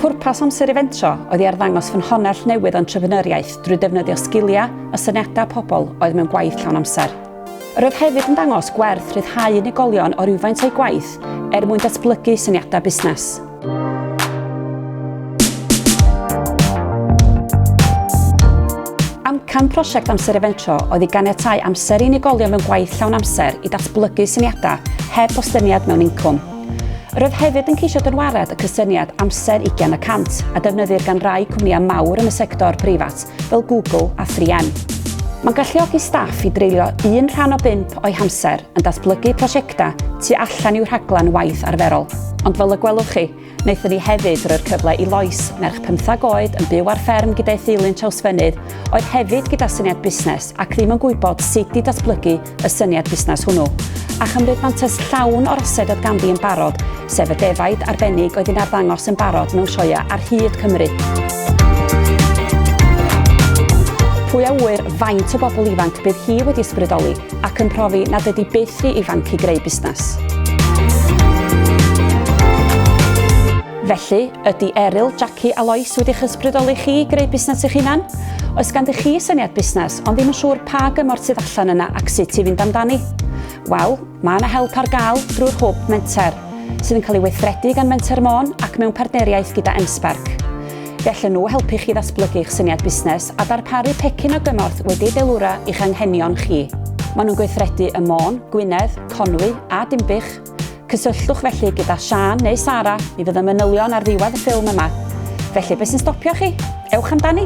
Pwrpas amser Eventro oedd i arddangos fy nhonell newydd o entrepreneuriaeth drwy defnyddio sgiliau a syniadau pobl oedd mewn gwaith llawn amser. Yr oedd hefyd yn dangos gwerth rhyddhau unigolion o rywfaint o'u gwaith er mwyn datblygu syniadau busnes. Amcan prosiect Amser Eventro oedd i ganiatáu amser i unigolion mewn gwaith llawn amser i datblygu syniadau heb bostyniad mewn incwm. Roedd hefyd yn ceisio dynwared y cysyniad amser 20 y cant a defnyddir gan rai cwmnïau mawr yn y sector preifat fel Google a 3M. Mae'n galluogi staff i dreulio un rhan o bump o'i hamser yn datblygu prosiectau tu allan i'w rhaglen waith arferol. Ond fel y gwelwch chi, Wnaethon ni hefyd roi'r cyfle i Lois, merch pymthag oed yn byw ar fferm gyda'i theulu yn Trawsfynydd, oedd hefyd gyda syniad busnes ac ddim yn gwybod sut i datblygu y syniad busnes hwnnw, a chymryd mantais llawn o'r ased oedd ganddi yn barod, sef y defaid arbennig oedd yn arddangos yn barod mewn sioeau ar hyd Cymru. Pwy a ŵyr faint o bobl ifanc bydd hi wedi ysbrydoli? ac yn profi nad ydy byth rhy ifanc i greu busnes. Felly, ydy Eryl, Jackie a Lois wedi eich ysbrydoli chi i greu busnes eich hunan? Oes ganddi chi syniad busnes, ond ddim yn siŵr pa gymorth sydd allan yna ac sut i fynd amdani? Wel, mae yna help ar gael drwy'r hwb Menter, sydd yn cael ei weithredu gan Menter Môn ac mewn partneriaeth gyda MSpark. Gallen nhw helpu chi ddatblygu'ch syniad busnes a darparu pecyn o gymorth wedi'i deilwra i'ch anghenion chi. Maen nhw'n gweithredu ym Môn, Gwynedd, Conwy a Dinbych. Cysylltwch felly gyda Siân neu Sara, mi fydd y manylion ar ddiwedd y ffilm yma. Felly, beth sy'n stopio chi? Ewch amdani!